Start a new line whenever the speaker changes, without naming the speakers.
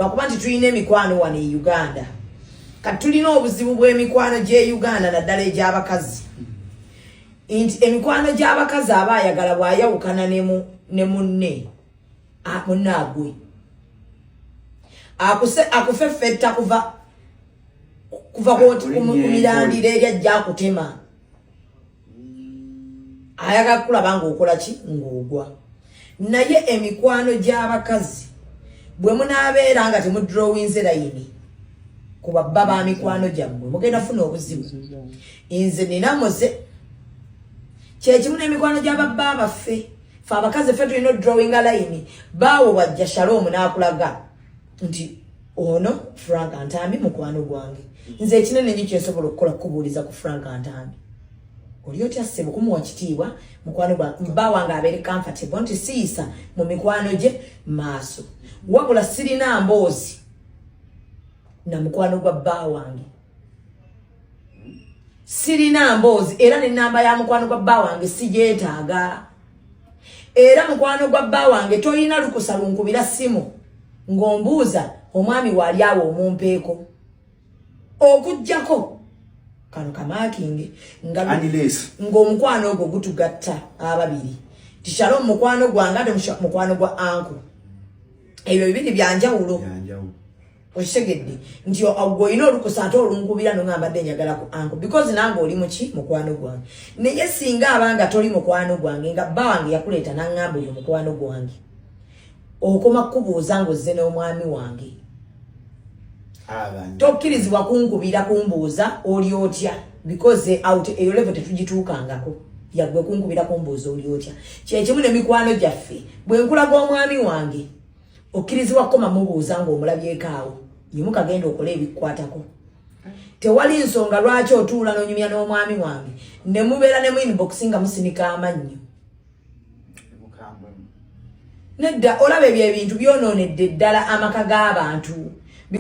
lwakuba nti tulina emikwano wano e uganda kati tulina obuzibu bw'emikwano gy'e uganda naddala egy'abakazi nti emikwano gy'abakazi aba ayagala bw'ayawukana ne munne munaagwe akufeffetta kuva kuva ku mirandira eri ajja akutema ayagala kulaba ngaokola ki ngaogwa naye emikwano gy'abakazi bwe munaabeera nga temudrowinze layini ku babba ba mikwano gyammwe mugenda funa obuzibu nze nina muze kyekimu n'emikwano gy'ababba abaffe fe abakazi ffe tulina odrowinga layini baawo bajja shaloomu n'akulaga nti ono frank antambi mukwano gwange nze ekinene nyo kyensobola okukola kukubuuliza ku frank antambi oli otya ssebo kumuwa kitiibwa mukwano gwa bba wange abeere comfortable nti siyisa mu mikwano gye maaso wabula sirina mboozi na mukwano gwa bba wange sirina mboozi era nenamba ya mukwano gwa bba wange sigyetaaga era mukwano gwa bba wange tolina lukusa lunkubira simu ng'ombuuza omwami waali awo omumpeeko okugjako kano kamakinge ng'omukwano ogwo gutugatta ababiri tikyalo mukwano gwange ate mukwano gwa anku ebyo bibiri byanjawulo okitegedde nti ogwo olina olukusa ate olunkubira no nga mbadde njagala ku anko because nange oli muki mukwano gwange naye singa abanga toli mukwano gwange nga bba wange yakuleeta nangamba oyo mukwano gwange okoma kukubuuza ngaozze n'omwami wange tokkirizibwa kunkubira kumbuuza oli otya because out eyo levo tetugituukangako yagwe kunkubira kumbuuza oli otya kyekimu ne mikwano gyaffe bwe nkulaga omwami wange okkirizibwa kukoma mubuuza ng'omulabyeko awo yimuka genda okola ebikwatako tewali nsonga lwaki otuula n'onyumya n'omwami wange ne mubeera ne mu inbox nga musinika amannyo nedda olaba ebyo ebintu byonoonedde ddala amaka g'abantu